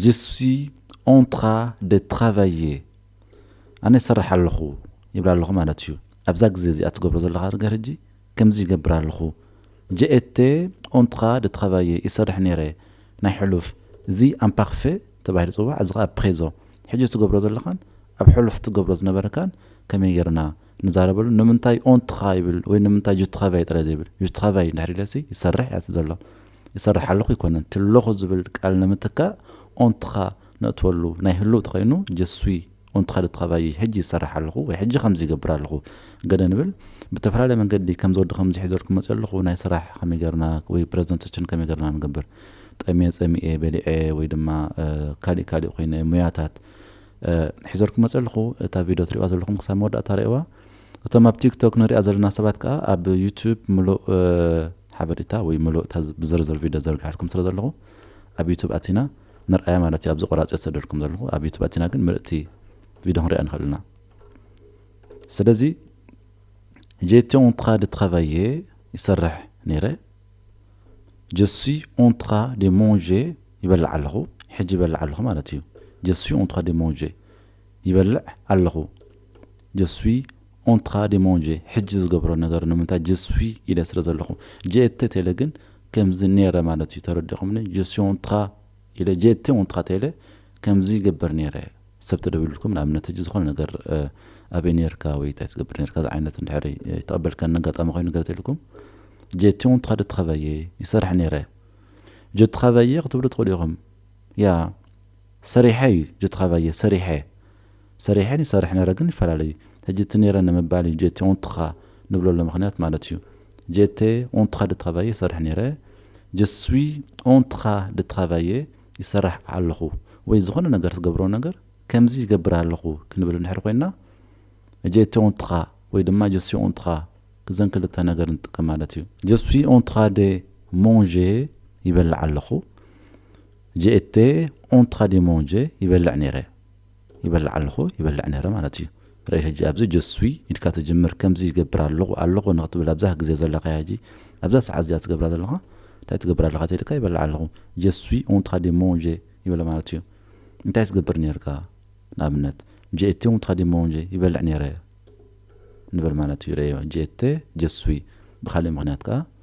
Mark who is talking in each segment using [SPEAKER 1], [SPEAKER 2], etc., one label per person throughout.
[SPEAKER 1] ጀ ስዊ ኦንትራ ደ ትራቫየ፣ ኣነ ይሰርሕ ኣለኹ ይብል ኣለኹ ማለት እዩ። ኣብዛ ግዜ እዚኣ ትገብሮ ዘለኻ ነገር ሕጂ ከምዚ ይገብር ኣለኹ፣ ጀ ኤተ ኦንትራ ደ ትራቫየ፣ ይሰርሕ ነይረ፣ ናይ ሕሉፍ፣ እዚ ኣምፓርፌ ተባሂሉ ይጽዋዕ፣ እዚ ከኣ ፕሬዞ፣ ሕጂ ትገብሮ ዘለኻን ኣብ ሕሉፍ ትገብሮ ዝነበረካን ከመይ ጌርና ንዛረበሉ፣ ንምንታይ ኦንትራ ይብል ወይ ንምንታይ ጀ ትራቫየ ጥራይ ዘይብል፣ ጀ ትራቫየ እንድሕር ኢለሲ ይሰርሕ እያ ትብል ዘሎ። ይሰርሕ ኣለኹ ኣይኮነን ትለኹ ዝብል ቃል ንምትካእ ኦንትኻ ነእትወሉ ናይ ህሉው ተኸይኑ ጀስዊ ኦንትኻ ልትኻባይይ ሕጂ ይሰርሕ ኣለኹ ወይ ሕጂ ከምዚ ይገብር ኣለኹ ገለ ንብል ብተፈላለየ መንገዲ ከምዚ ወዲ ከምዚ ሒዘልኩም መጽየ ኣለኹ ናይ ስራሕ ከመይ ገርና ወይ ፕረዘንተችን ከመይ ገርና ንገብር ጠምየ ጸሚኤ በሊዐ ወይ ድማ ካሊእ ካሊእ ኮይነ ሙያታት ሒዘልኩም መጽየ ኣለኹ እታ ቪድዮ ትሪእዋ ዘለኹም ክሳብ መወዳእታ ርኤዋ እቶም ኣብ ቲክቶክ ንሪኣ ዘለና ሰባት ከኣ ኣብ ዩቱብ ምሉእ ሓበሪታ ወይ ምሉእ እታ ብዝርዝር ቪድዮ ዘርግሐልኩም ስለ ዘለኹ ኣብ ዩቱብ ኣቲና ንርኣያ ማለት እዩ ኣብዚ ቆራጺ ዝሰደልኩም ዘለኹ ኣብ ዩቱብ ኣቲና ግን ምልእቲ ቪድዮ ክንሪኣ ንኽእል ኢና ስለዚ ጄቲ ኦንትራ ደ ትራቫየ ይሰርሕ ነይረ ጀሱይ ኦንትራ ደ ሞንዤ ይበልዕ ኣለኹ ሕጂ ይበልዕ ኣለኹ ማለት እዩ ጀሱይ ኦንትራ ደ ሞንዤ ይበልዕ ኣለኹ je suis en train de manger ሕጂ ዝገብሮ ነገር ንምንታይ je suis ኢለ ስለ ዘለኹ je etais ተይለ ግን ከምዚ ኔረ ማለት እዩ ተረዲኹምኒ je suis en train ኢለ je etais en train ተይለ ከምዚ ይገብር ኔረ ሰብ ተደዊሉልኩም ንኣብነት ሕጂ ዝኾነ ነገር ኣበይ ኔርካ ወይ እንታይ ትገብር ኔርካ ዝዓይነት እንድሕር ኣይተቐበልካኒ ኣጋጣሚ ኮይኑ ገለ ተይልኩም je etais en train de travailler ይሰርሕ ኔረ je travaillais ክትብሉ ትኽእሉ ኢኹም ያ ሰሪሐ እዩ ጀትኻባየ ሰሪሐ ሰሪሐን ይሰርሕ ነረ ግን ይፈላለዩ ሕጂ እቲ ነረ ንምባል እዩ ጀቴ ኡንትኻ ንብለሎ ምኽንያት ማለት እዩ ጀቴ ኡንትኻ ደትኻባየ ይሰርሕ ነረ ጀስዊ ኡንትኻ ደትኻባየ ይሰራሕ ኣለኹ ወይ ዝኾነ ነገር ትገብሮ ነገር ከምዚ ይገብር ኣለኹ ክንብል እንድሕር ኮይና ጀቴ ኡንትኻ ወይ ድማ ጀስዊ ኡንትኻ እዘን ክልተ ነገር ንጥቀም ማለት እዩ ጀስዊ ኡንትኻ ደ ሞንዤ ይበልዕ ኣለኹ። ጀኤቴ ኦንትራ ዴ ሞንጀ ይበልዕ ነይረ ይበልዕ ኣለኹ ይበልዕ ነይረ ማለት እዩ ርእ ሕጂ ኣብዚ ጀ ስዊይ ኢልካ ትጅምር ከምዚ ይገብር ኣለኹ ኣለኹ ንክትብል ኣብዛ ግዜ ዘለካያ ሕጂ ኣብዛ ሰዓት እዚኣ ትገብራ ዘለኻ እንታይ ትገብር ኣለኻ ተኢልካ ይበልዕ ኣለኹ ጀ ስዊይ ኦንትራ ዴ ሞንጀ ይብል ማለት እዩ እንታይ ትገብር ነይርካ ንኣብነት ጀኤቴ ኦንትራ ዴ ሞንጀ ይበልዕ ነይረ ንበል ማለት እዩ ርኤዮ ጀኤቴ ጀ ስዊይ ብካሊእ ምክንያት ከኣ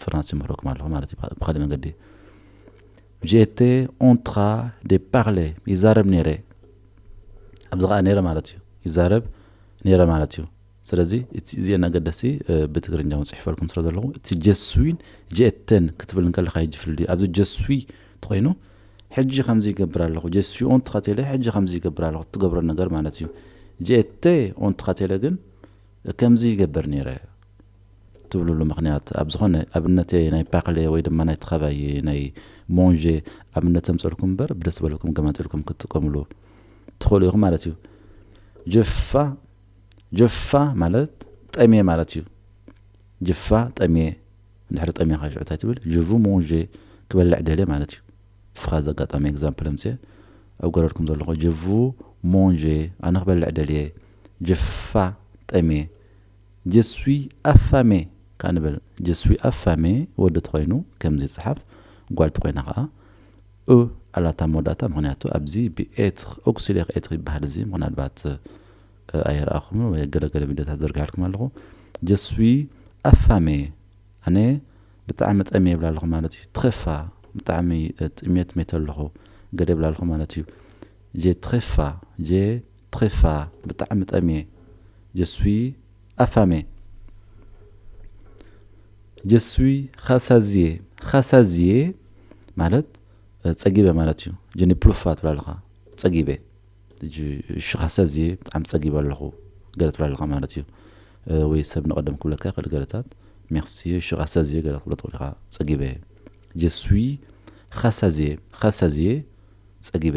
[SPEAKER 1] ፍራንስ ይምህረኩም ኣለኹ ማለት እዩ ብካሊእ መንገዲ ጀቴ ኦንትራ ደ ፓርለ ይዛረብ ነይረ ኣብዚ ከዓ ነይረ ማለት እዩ ይዛረብ ነይረ ማለት እዩ ስለዚ እቲ እዚአን ኣገደስቲ ብትግርኛ እውን ፅሒፈልኩም ስለ ዘለኹ እቲ ጀስዊን ጀኤተን ክትብል እንከለካ ሕጂ ፍልል ኣብዚ ጀስዊ ተኮይኑ ሕጂ ከምዚ ይገብር ኣለኹ ጀስዊ ኦንት ካቴለ ሕጂ ከምዚ ይገብር ኣለኹ እትገብሮ ነገር ማለት እዩ ጀኤተ ኦንት ካቴለ ግን ከምዚ ይገበር ነይረ ትብሉሉ ምኽንያት ኣብ ዝኾነ ኣብነተይ ናይ ፓክሌ ወይ ድማ ናይ ተኸባይ ናይ ሞንዤ ኣብነት ተምፀልኩም እምበር ብደስ ዝበለኩም ገማጢልኩም ክትጥቀምሉ ትኽእሉ ኢኹም ማለት እዩ ጅፋ ጅፋ ማለት ጠሜ ማለት እዩ ጅፋ ጠሜ እንድሕሪ ጠሜ ካሽዑ እንታይ ትብል ጅቡ ሞንዤ ክበልዕ ደልየ ማለት እዩ ፍኻ ዘጋጣሚ ኤግዛምፕል ኣምፅየ ኣብ ገረድኩም ዘለኹ ጅቡ ሞንዤ ኣነ ክበልዕ ደልየ ጅፋ ጠሜ Je suis affamé ከኣ ንበል። Je suis affamé ወዲ ተኾይኑ ከምዚ ይጸሓፍ፣ ጓል ተኾይና ከኣ እ ኣላታ ኣብ መወዳእታ፣ ምኽንያቱ ኣብዚ ብ ኤትር፣ ኦክሲሌር ኤትር ይበሃል እዚ፣ ምናልባት ኣይረኣኹምን ወይ ኣብ ገለ ገለ ቪድዮታት ዘርጊሐልኩም ኣለኹ። Je suis affamé ኣነ ብጣዕሚ ጠምየ ይብል ኣለኹ ማለት እዩ። Très fa ብጣዕሚ ጥምየት መይተ ኣለኹ፣ ገለ ይብል ኣለኹ ማለት እዩ። J'ai très fa J'ai ትኺፋ ብጣዕሚ ጠምየ ጀስዊ ኣፋሜ ጀስዊ ኻሳዝየ ኻሳዝየ ማለት ጸጊበ ማለት እዩ ጀኒ ፕሉፋ ትብል ኣለኻ ጸጊበ እጂ እሺ ኻሳዝየ ብጣዕሚ ጸጊበ ኣለኹ ገለ ትብል ኣለኻ ማለት እዩ ወይ ሰብ ንቐደም ክብለካ ይኽእል ገለታት ሜክስየ እሺ ኻሳዝየ ገለ ክትብሎ ትኽእል ኢኻ ጸጊበ ጀስዊ ኻሳዝየ ኻሳዝየ ጸጊበ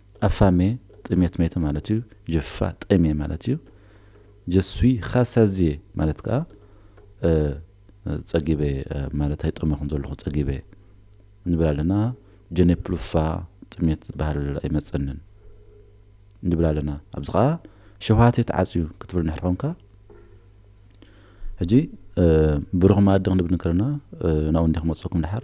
[SPEAKER 1] ኣፋሜ ጥሜት ሜተ ማለት እዩ። ጅፋ ጠሜ ማለት እዩ። ጀስዊ ኻሳዜ ማለት ከኣ ጸጊበ ማለት ኣይጠመኹን ዘለኹ ጸጊበ ንብል ኣለና። ጀኔፕሉፋ ጥሜት ዝበሃል ኣይመጸንን ንብል ኣለና። ኣብዚ ከኣ ሸውሃቴ ተዓጽዩ ክትብል እንድሕር ኾንካ ሕጂ ብሩኽ መኣዲ ክንብል ከለና ናብኡ እንዲየ ክመጽኩም ድሓር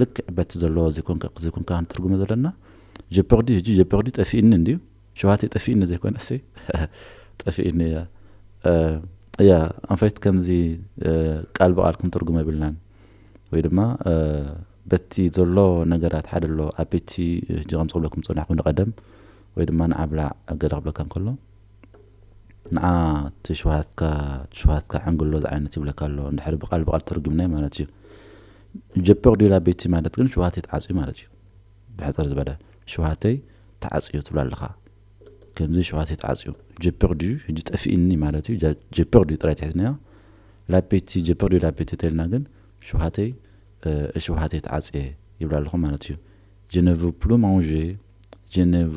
[SPEAKER 1] ልክዕ በቲ ዘለዎ ዘይኮንካ ዘይኮንካ ንትርጉሞ ዘለና ጀፐርዲ ህጂ ጀፐርዲ ጠፊእኒ እንድዩ ሸውሃተይ ጠፊእኒ ዘይኮነሲ ጠፊእኒ እያ እያ ኣንፈት ከምዚ ቃል ብቃል ክንትርጉሞ የብልናን ወይ ድማ በቲ ዘሎ ነገራት ሓደ ኣሎ ኣቤቲ ህጂ ከም ዝብለኩም ጸናሕኩ ንቀደም ወይ ድማ ንዓብላዕ ገለ ክብለካ እንከሎ ንዓ ትሽውሃትካ ትሽውሃትካ ዕንግሎ ዝዓይነት ይብለካ ኣሎ እንድሕር ብቃል ብቃል ተርጉምናዮ ማለት እዩ ጀፐቅ ዲላ ቤቲ ማለት ግን ሽውሃተይ ተዓፅዩ ማለት እዩ ብሕፅር ዝበለ ሽውሃተይ ተዓፅዩ ትብሎ ኣለኻ ከምዚ ሽውሃተይ ተዓፅዩ ጀፐቅ ድዩ ሕጂ ጠፊእኒ ማለት እዩ ጀፐቅ ድዩ ጥራይ ትሒዝናዮ ላቤቲ ጀፐቅ ድዩ ላቤቲ ተልና ግን ሽውሃተይ ሽውሃተይ ተዓፅየ ይብላ ኣለኹ ማለት እዩ ጀነቭ ፕሉ ማንዤ ጀነቭ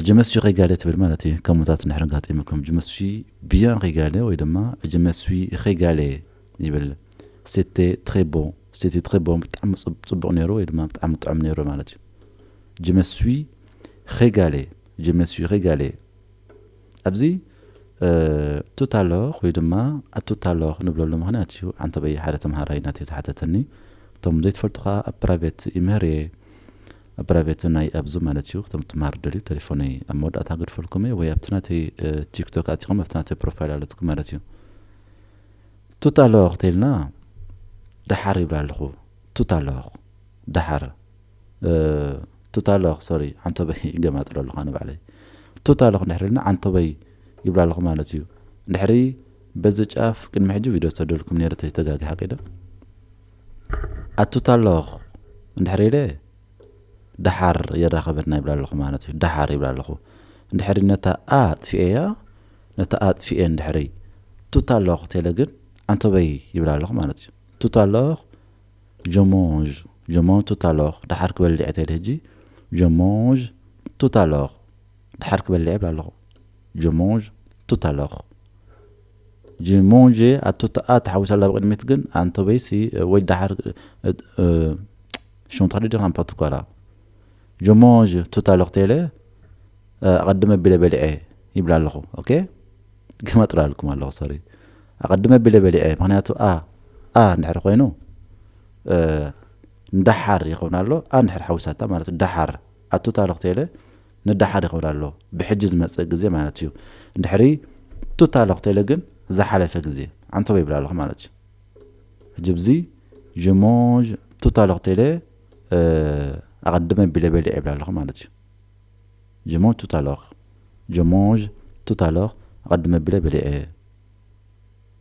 [SPEAKER 1] እጀመስሹ ኸይጋሌ ትብል ማለት እዩ ከሙታት እንድሕር ኣጋጢሙኩም እጀመስሹ ብያን ኸይጋሌ ወይ ድማ እጀመስሹ ኸይጋሌ ይብል ሴቴ ትሬ ቦ ሴቴ ትሬ ቦ ብጣዕሚ ፅቡቕ ነይሩ ወይ ድማ ብጣዕሚ ጥዑም ነይሩ ማለት እዩ እጀመስሹ ኸይጋሌ እጀመስሹ ኸይጋሌ ኣብዚ ቱታሎኽ ወይ ድማ ኣቱታሎኽ ንብለሉ ምክንያት እዩ ዓንተበይ ሓደ ተምሃራይ ናተይ ዝሓተተኒ እቶም ዘይትፈልጡ ከዓ ኣብ ፕራይቬት ይምህር እየ ፕራይቬት ናይ ኣብዙ ማለት እዩ ክቶም ትምሃር ትደልዩ ተሌፎነይ ኣብ መወዳእታ ክገድፈልኩም እየ ወይ ኣብቲ ናተይ ቲክቶክ ኣቲኹም ኣብቲ ናተይ ፕሮፋይል ኣለትኩም ማለት እዩ ቱት ኣለዋ ክትልና ደሓር ይብላ ኣለኹ ቱት ኣለዋ ደሓር ቱት ኣለዋ ሶሪ ዓንቶበይ ገማጥሎ ኣለኹ ኣነ ባዕለይ ቱት ኣለኹ እንድሕር ኢልና ዓንቶበይ ይብላ ኣለኹ ማለት እዩ እንድሕሪ በዚ ጫፍ ቅድሚ ሕጂ ቪድዮ ዝተደልኩም ነይረ ተይተጋግሓ ቂደ ኣቱታ ኣለኹ እንድሕር ኢለ ደሓር የራኸበና ይብላ ኣለኹ ማለት እዩ ደሓር ይብላ ኣለኹ እንድሕሪ ነታ ኣ ኣጥፊኤያ ነታ ኣጥፊኤ እንድሕሪ ቱታ ኣለኹ ቴለ ግን ኣንተበይ ይብላ ኣለኹ ማለት እዩ ቱታ ኣለኹ ጀሞዥ ጀሞ ቱታ ኣለኹ ደሓር ክበልዕ ቴለ ህጂ ጀሞዥ ቱታ ኣለኹ ደሓር ክበልዕ ይብላ ኣለኹ ጀሞዥ ቱታ ኣለኹ ጅ ሞንዠ ኣቱተኣ ተሓዊሳ ኣላ ብቅድሚት ግን ኣንቶበይሲ ወይ ደሓር ሹም ተክሊ ዲኻ ንፓቱ ኳላ ጅ ሞንዠ ቱታ ሎክቴለ ኣቀድመ ቢለ በሊዐ ይብላ ኣለኹ ኦኬ ገማጥላለኩም ኣለኹ ሶሪ ኣቀድመ ቢለ በሊዐ ምክንያቱ ኣ ኣ እንድሕር ኮይኑ ንደሓር ይኸውን ኣሎ ኣ እንድሕር ሓዊሳታ ማለት ደሓር ኣቱታ ሎክቴለ ነዳሓድ ይኸብር ኣሎ ብሕጂ ዝመጽእ ግዜ ማለት እዩ ድሕሪ ቱታ ኣለኹ ቴለ ግን ዝሓለፈ ግዜ ዓንተቦ ይብል ኣለኹ ማለት እዩ ሕጂ ብዚ ጅሞጅ ቱታ ኣለኹ ቴለ ኣቐድመ ቢለ በሊዕ ይብል ኣለኹ ማለት እዩ ጅሞጅ ቱታ ኣለኹ ጅሞጅ ቱታ ኣለኹ ኣቐድመ ቢለ በሊዐ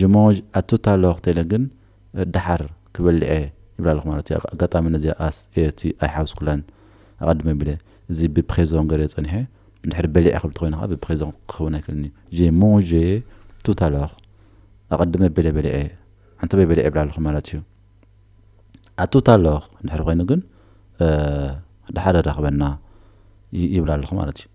[SPEAKER 1] ጅሞጅ ኣቱት ኣሎ ክትለ ግን ደሓር ክበልዔ ይብላ ኣለኹ ማለት እየ ኣጋጣሚ ነዚኣ ኣስ እቲ ኣይሓውስኩላን ኣቐድመ ቢለ እዚ ብፕኼዞን ገሬ ጸኒሐ እንድሕር በሊዐ ክብል ተኾይነ ከኣ ብፕኼዞን ክኸውን ኣይክእልን እዩ ጅሞጀ ቱት ኣለኹ ኣቐድመ ቢለ በሊዐ ኣንተበይ በሊዐ ይብላ ኣለኹ ማለት እዩ ኣቱት ኣለኹ እንድሕር ኮይኑ ግን ደሓር የራኽበና ይብላ ኣለኹ ማለት እዩ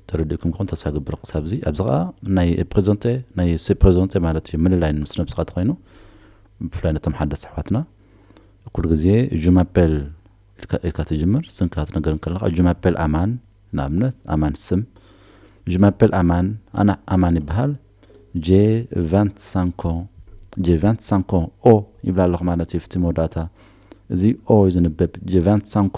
[SPEAKER 1] ተረዲእኩም ክኾን ተስፋ እገብር ክሳብ እዚ ኣብዚ ከኣ ናይ ፕሬዘንተ ናይ ሴ ፕሬዘንተ ማለት እዩ ምልላይ ምስ ነብስኻ ተኮይኑ ብፍላይ ነቶም ሓደስቲ ኣሕዋትና ኩሉ ግዜ ጁማፔል ኢልካ ትጅምር ስምካ ክትነገር እንከለካ ጁማፔል ኣማን ንኣብነት ኣማን ስም ጁማፔል ኣማን ኣና ኣማን ይበሃል ጄ ቫንት ሳንኮ ጄ ቫንት ሳንኮ ኦ ይብላ ኣለኹ ማለት እዩ ፍቲ መወዳእታ እዚ ኦ እዩ ዝንበብ ጄ ቫንት ሳንኮ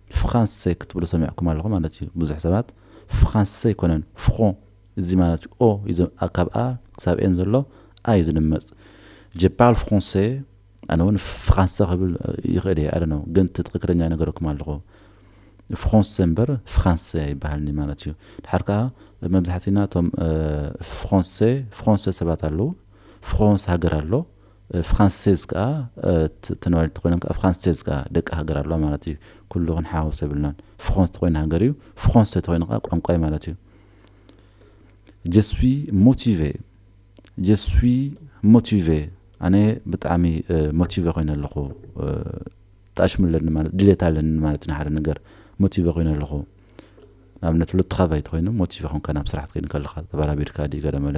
[SPEAKER 1] ፍኻንሰ ክትብሉ ሰሚዕኩም ኣለኹም ማለት እዩ ብዙሕ ሰባት ፍኻንሰ ኣይኮነን ፍኾ እዚ ማለት ኦ እዩ ካብ a ክሳብ ኤን ዘሎ a እዩ ዝድመጽ je parle français ኣነ እውን ፍኻንሰ ክብል ይኽእል እየ i don't know ግን እቲ ትኽክለኛ ይነገረኩም ኣለኹ ፍኾንሰ እምበር ፍኻንሰ ኣይበሃልንዩ ማለት እዩ ድሓር ከኣ መብዛሕቲና እቶም ፍኾንሰ ፍኾንሰ ሰባት ኣለዉ ፍኾንስ ሃገር ኣሎ ፍራንሴዝ ከኣ ተነባሪት እንተኾይኖም ከኣ ፍራንሴዝ ከኣ ደቂ ሃገር ኣለዋ ማለት እዩ። ኩሉ ክንሓዋውሶ የብልናን። ፍሮንስ እንተኾይኑ ሃገር እዩ፣ ፍሮንሴ እንተኾይኑ ከኣ ቋንቋ እዩ ማለት እዩ። ጀ ስዊ ሞቲቬ፣ ጀ ስዊ ሞቲቬ፣ ኣነ ብጣዕሚ ሞቲቬ ኮይነ ኣለኹ፣ ጣሽሚ ኣለኒ ማለት ድሌት ኣለኒ ማለት እዩ ንሓደ ነገር ሞቲቬ ኮይነ ኣለኹ። ንኣብነት ሎትኻቫይ እንተኾይኑ ሞቲቬ ኮንካ ናብ ስራሕ ክትከይድ ከለኻ ተበራቢርካ ድዩ ገለመለ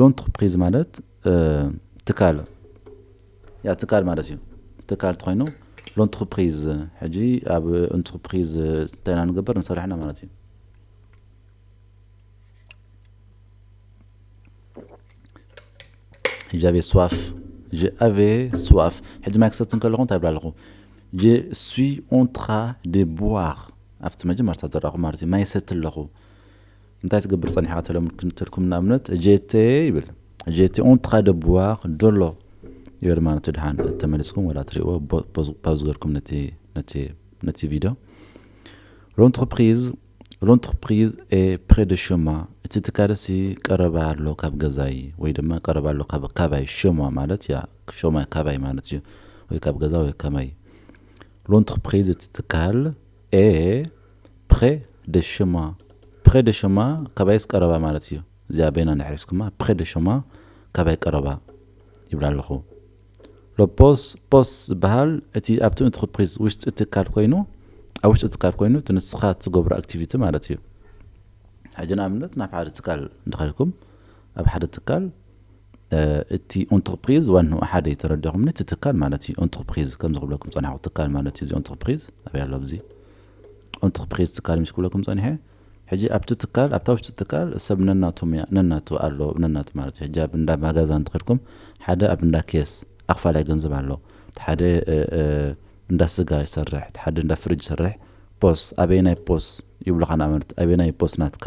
[SPEAKER 1] ሎንትርፕሪዝ ማለት ትካል ያ ትካል ማለት እዩ ትካል ትኮይኑ ሎንትርፕሪዝ ሕጂ ኣብ እንትርፕሪዝ እንታይ ኢና ንገበር ንሰርሕ ኢና ማለት እዩ ጃቬ ስዋፍ ጃቬ ስዋፍ ሕጂ ማይ ክሰቲ እንከለኹ እንታይ ብላ ኣለኹ ጀ ሱዊ ኦንትራ ደ ቡዋር ኣብቲ መጀመርታ ዘራኹ ማለት እዩ ማይ ሰቲ ኣለኹ እንታይ ትገብር ጸኒሕካ ተልኩም ንኣብነት ጄቴ ይብል ጄቴ ኦን ትኻ ደብዋኽ ዶሎ ይብል ማለት ድሓን ተመሊስኩም ወላ ትሪእዎ ፓዝ ገርኩም ነቲ ቪድዮ ሎንትርፕሪዝ ሎንትርፕሪዝ ኤ ፕሬ ደ ሸማ እቲ ትካልሲ ቀረባ ኣሎ ካብ ገዛይ ወይ ድማ ቀረባ ኣሎ ካባይ ሸማ ማለት ያ ሸማ ካባይ ማለት እዩ ወይ ካብ ገዛ ወይ ከማይ ሎንትርፕሪዝ እቲ ትካል a ፕረ ደ ሸማ ፕረ ደ ሸማ ካባይስ ቀረባ ማለት እዩ እዚኣ በይና እንድሕር ሒዝኩማ ፕረ ደ ሸማ ካባይ ቀረባ ይብል ኣለኹ ሎ ፖስ ፖስ ዝበሃል እቲ ኣብቲ እንትርፕሪዝ ውሽጢ ትካል ኮይኑ ኣብ ውሽጢ ትካል ኮይኑ እቲ ንስኻ ትገብሮ ኣክቲቪቲ ማለት እዩ ሕጂ ንኣብነት ናብ ሓደ ትካል እንተኸልኩም ኣብ ሓደ ትካል እቲ ኡንትርፕሪዝ ዋንኡ ሓደ እዩ ተረዲኹምኒ እቲ ትካል ማለት እዩ ኡንትርፕሪዝ ከምዚ ክብለኩም ጸናሕኩ ትካል ማለት እዩ እዚ ኡንትርፕሪዝ ኣበይ ኣሎ ኣብዚ ኡንትርፕሪዝ ትካል ምስ ክብለኩም ጸኒሐ ሕጂ ኣብቲ ትካል ኣብታ ውሽጢ ትካል ሰብ ነናቱ ሙያ ነናቱ ኣሎ ነናቱ ማለት እዩ ሕጂ ኣብ እንዳ ማጋዛ እንትኸድኩም ሓደ ኣብ እንዳ ኬስ ኣኽፋላይ ገንዘብ ኣሎ እቲ ሓደ እንዳ ስጋ ይሰርሕ እቲ ሓደ እንዳ ፍርጅ ይሰርሕ ፖስ ኣበየናይ ፖስ ይብሉኻ ንኣብነት ኣበየናይ ፖስ ናትካ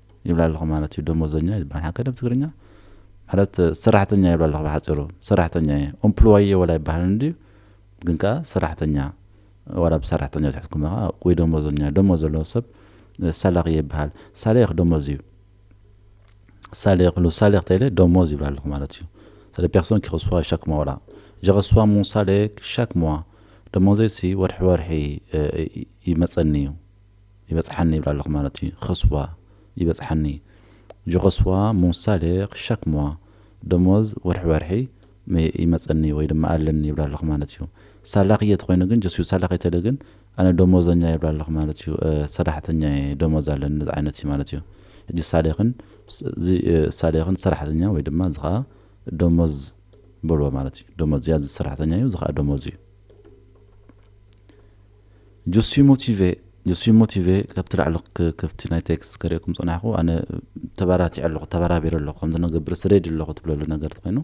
[SPEAKER 1] ይብላ ኣለኹ ማለት እዩ ደሞዘኛ ይባል ሓከ ደም ትግርኛ ማለት ሰራሕተኛ ይብላ ኣለኹ ብሓፂሩ ሰራሕተኛ እየ ኦምፕሎየ ወላ ይባሃል እንድዩ ግን ከዓ ሰራሕተኛ ዋላ ብሰራሕተኛ ትሕትኩም ከዓ ወይ ደሞዘኛ ደሞ ዘለዎ ሰብ ሳላቂ ይበሃል ሳሌኽ ደሞዝ እዩ ሳሌኽ ሉ ሳሌኽ ተይለ ደሞዝ ይብላ ኣለኹ ማለት እዩ ስለ ፔርሶን ኪኸስዋ ሻክ ሞዋ ወላ ጀኸስዋ ሙ ሳሌክ ሻክ ሞዋ ደሞዘይሲ ወርሒ ወርሒ ይመፀኒ እዩ ይበጽሓኒ ይብላ ኣለኹ ማለት እዩ ኸስዋ ይበጽሓኒ ጅኸስዋ ሞን ሳሌር ሻክ ሞዋ ደሞዝ ወርሒ ወርሒ ይመጸኒ ወይ ድማ ኣለኒ ይብላ ኣለኹ ማለት እዩ ሳላርየ ተኾይኑ ግን ጀስዩ ሳላርየ ተለ ግን ኣነ ደሞዘኛ ይብላ ኣለኹ ማለት እዩ ሰራሕተኛ እየ ደሞዝ ኣለኒ እዚ ዓይነት እዩ ማለት እዩ ሕጂ ሳሌርን እዚ ሳሌርን ሰራሕተኛ ወይ ድማ እዚ ከዓ ደሞዝ በልዎ ማለት እዩ ደሞዝ እያ እዚ ሰራሕተኛ እዩ እዚ ከዓ ደሞዝ እዩ Je suis motivé je suis motivé ካብቲ ላዕሊ ከብቲ ናይ ቴክስት ከርእየኩም ጸናሕኩ ኣነ ተባራቲዐ ኣለኹ ተባራቢረ ኣለኹ ከምዚ ነገብር ስሬድ ኣለኹ ትብለሉ ነገር ተኾይኑ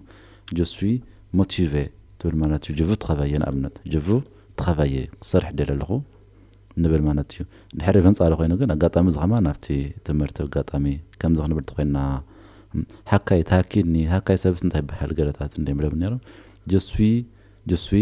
[SPEAKER 1] je suis motivé ትብል ማለት እዩ je veux travailler ንኣብነት je veux travailler ክሰርሕ ደለ ኣለኹ ንብል ማለት እዩ ድሕሪ በንጻሪ ኮይኑ ግን ኣጋጣሚ እዚ ከማን ኣብቲ ትምህርቲ ኣጋጣሚ ከምዚ ክንብል ተኮይና ሃካይ ታኪኒ ሃካይ ሰብስ እንታይ ይበሃል ገለታት እንደ ይብለብ ነይሮም ጀስዊ ጀስዊ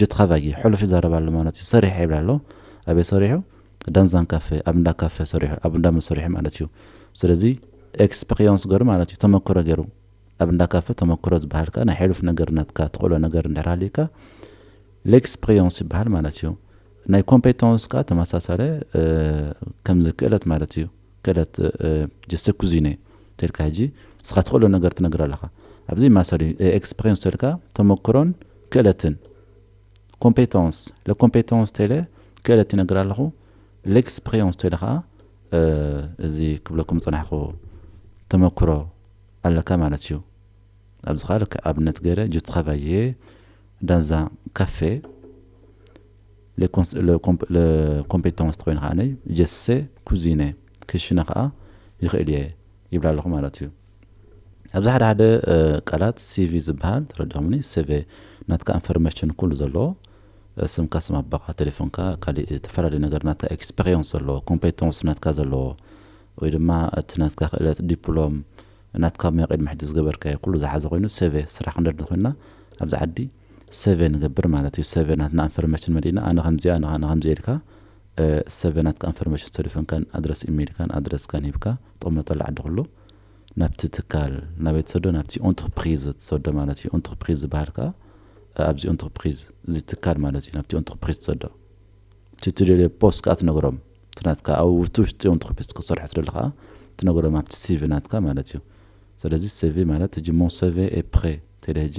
[SPEAKER 1] ጅት ኻባጊ ሕሉፍ ይዛረብ ኣሎ ማለት እዩ ሰሪሐ ይብል ኣሎ ኣበይ ሰሪሑ ዳንዛን ካፌ ኣብ እንዳ ካፌ ሰሪሑ ኣብ እንዳ መሰሪሒ ማለት እዩ ስለዚ ኤክስፐቅዮንስ ገሩ ማለት እዩ ተመክሮ ገሩ ኣብ እንዳ ካፌ ተመክሮ ዝባሃል ከኣ ናይ ሕሉፍ ነገር ናትካ ትክእሎ ነገር እንድሕር ሃልዩካ ሌክስፐቅዮንስ ይባሃል ማለት እዩ ናይ ኮምፔቶንስ ከኣ ተመሳሳለ ከምዚ ክእለት ማለት እዩ። ከደት ጀስተ ኩዚነ ተልካ ሕጂ ንስኻ ትኽእሎ ነገር ትነግር ኣለኻ ኣብዚ ማሰሪ ኤክስፕሬንስ ተልካ ተመክሮን ክእለትን ኮምፔተንስ ለኮምፔተንስ ተለ ክእለት ይነግር ኣለኹ ለኤክስፕሬንስ ተለ ከዓ እዚ ክብለኩም ፅናሕኹ ተመክሮ ኣለካ ማለት እዩ ኣብዚ ከዓ ልክ ኣብነት ገይረ ጅትኻቫየ ዳንዛ ካፌ ለኮምፔታንስ ተኾይኑ ከኣ ጀሰ ኩዚነ ክሽነ ከኣ ይኽእል እየ ይብል ኣለኹ ማለት እዩ። ኣብዚ ሓደ ሓደ ቃላት ሲቪ ዝበሃል ተረዲእኩምኒ ሰቨ ናትካ እንፈርመሽን ኩሉ ዘለዎ ስምካ ስም ኣቦኻ ቴሌፎንካ ካሊእ ተፈላለዩ ነገር ናትካ ኤክስፐሪየንስ ዘለዎ ኮምፔታንስ ናትካ ዘለዎ ወይ ድማ እቲ ናትካ ክእለት ዲፕሎም ናትካ ሙያ ቅድሚ ሕጂ ዝገበርካዮ ኩሉ ዝሓዘ ኮይኑ ሰቨ ስራሕ ክንደሊ ኮይና ኣብዚ ዓዲ ሰቨ ንገብር ማለት እዩ ሰቨ ናትና ኣንፈርመሽን መሊእና ኣነ ከምዚኣ ኣነ ኣነ ከምዚ ኢልካ ሰቨ ናትካ ኣንፈርመሽን ተልፎንካን ኣድረስ ኢሜልካን ኣድረስካን ሂብካ ጥቕመጠሉ ዓዲ ኩሉ ናብቲ ትካል ናበይ ትሰዶ ናብቲ ኦንትርፕሪዝ ትሰዶ ማለት እዩ ኦንትርፕሪዝ ዝበሃል ከዓ ኣብዚ ኦንትርፕሪዝ እዚ ትካል ማለት እዩ ናብቲ ኦንትርፕሪዝ ትሰዶ እቲ ትደልዮ ቦስ ከዓ ትነግሮም እቲ ናትካ ኣብ ውቲ ውሽጢ ኦንትርፕሪዝ ክትሰርሖ ትደሊ ከዓ ትነግሮም ኣብቲ ሲቪ ናትካ ማለት እዩ ስለዚ ሲቪ ማለት ህጂ ሞን ሰቨ ኤፕሬ ተለ ህጂ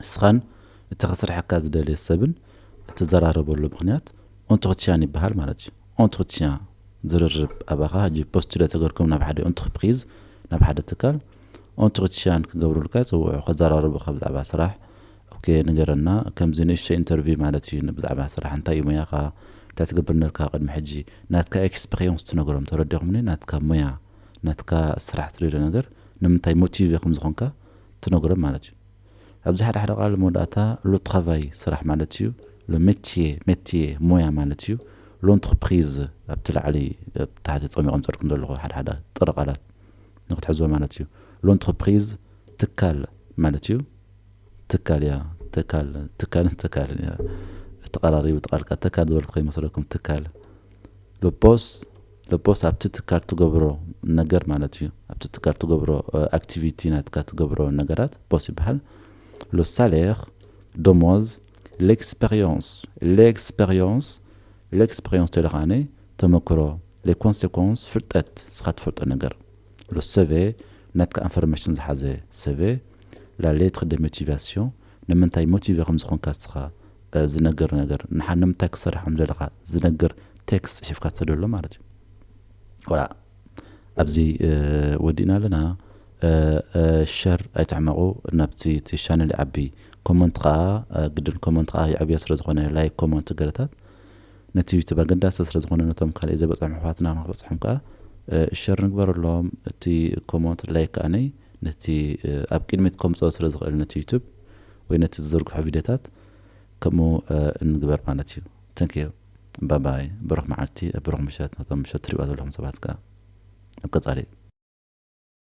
[SPEAKER 1] ንስኻን እቲ ከስርሓካ ዝደልየ ሰብን እትዘራረበሉ ምኽንያት ኦንትርትያን ይበሃል ማለት እዩ። ኦንትርትያን፣ ዝርርብ፣ ኣባኻ ሕጂ ፖስቱለ ተገርኩም ናብ ሓደ ኦንትርፕሪዝ፣ ናብ ሓደ ትካል፣ ኦንትርትያን ክገብሩልካ ይጽውዑ፣ ከዘራርቡኻ ብዛዕባ ስራሕ፣ ኦኬ ንገረና፣ ከምዚ ንእሽቶይ ኢንተርቪው ማለት እዩ፣ ብዛዕባ ስራሕ፣ እንታይ እዩ ሞያኻ፣ እንታይ ትገብር ኔርካ ቅድሚ ሕጂ፣ ናትካ ኤክስፐሪየንስ ትነግሮም፣ ተረዲኹምኒ፣ ናትካ ሞያ፣ ናትካ ስራሕ ትሪዶ ነገር፣ ንምንታይ ሞቲቭ ኢኹም ዝኾንካ፣ ትነግሮም ማለት እዩ። ኣብዚ ሓደ ሓደ ቃል መወዳእታ ሎ ትራቫይ ስራሕ ማለት እዩ፣ ሎ ሜትዬ ሜትዬ ሞያ ማለት እዩ፣ ሎንትርፕሪዝ ኣብቲ ላዕሊ ኣብ ታሕቲ ጸሚቖም ዝጸድኩም ዘለኹ ሓደ ሓደ ጥረ ቃላት ንክትሕዝዎ ማለት እዩ። ሎንትርፕሪዝ ትካል ማለት እዩ፣ ትካል እያ ትካል ትካልን ተካልን እያ ተቐራሪቡ ተቃልቃ ተካል ዝበልኩ ከይመስለኩም ትካል ሎፖስ ለፖስ ኣብቲ ትካል ትገብሮ ነገር ማለት እዩ ኣብቲ ትካል ትገብሮ ኣክቲቪቲ ናትካ ትገብሮ ነገራት ፖስ ይበሃል ሎ ሳሌር ደሞዝ ሌክስፐርዮንስ ሌክስፐርዮንስ ሌክስፐርዮንስ ተሎ ከኣ ተመክሮ ሌ ኮንሴኮንስ ፍልጠት ንስኻ ትፈልጦ ነገር ሎ ሰቬ ናትካ ኣንፈርመሽን ዝሓዘ ሰቬ ላ ሌትር ደ ሞቲቫስዮን ንምንታይ ሞቲቨ ከም ዝኾንካ እስኻ ዝነገር ነገር ንሓ ንምንታይ ክትሰርሕ ከም ዘለኻ ዝነገር ቴክስት ጽሒፍካ ትሰደሉ ማለት እዩ ወላ ኣብዚ ወዲእና ኣለና ሸር ኣይትሕመቑ ናብቲ እቲ ሻነል ይዓቢ ኮመንት ከዓ ግድን ኮመንት ከዓ ይዕብዮ ስለ ዝኾነ ላይክ ኮመንት ገለታት ነቲ ዩቱብ ኣገዳሲ ስለ ዝኾነ ነቶም ካልእ ዘይበፅሖም ኣሕዋትና ንክበፅሖም ከዓ ሸር ንግበረሎም እቲ ኮመንት ላይክ ከዓነይ ነቲ ኣብ ቅድሚት ከምጽኦ ስለ ዝኽእል ነቲ ዩቱብ ወይ ነቲ ዝዝርግሖ ቪድዮታት ከምኡ እንግበር ማለት እዩ thank you ባይ ባይ ብሩኽ መዓልቲ ብሩኽ ምሸት ነቶም ምሸት ትሪእዋ ዘለኹም ሰባት ከኣ ኣብ ቀጻሊ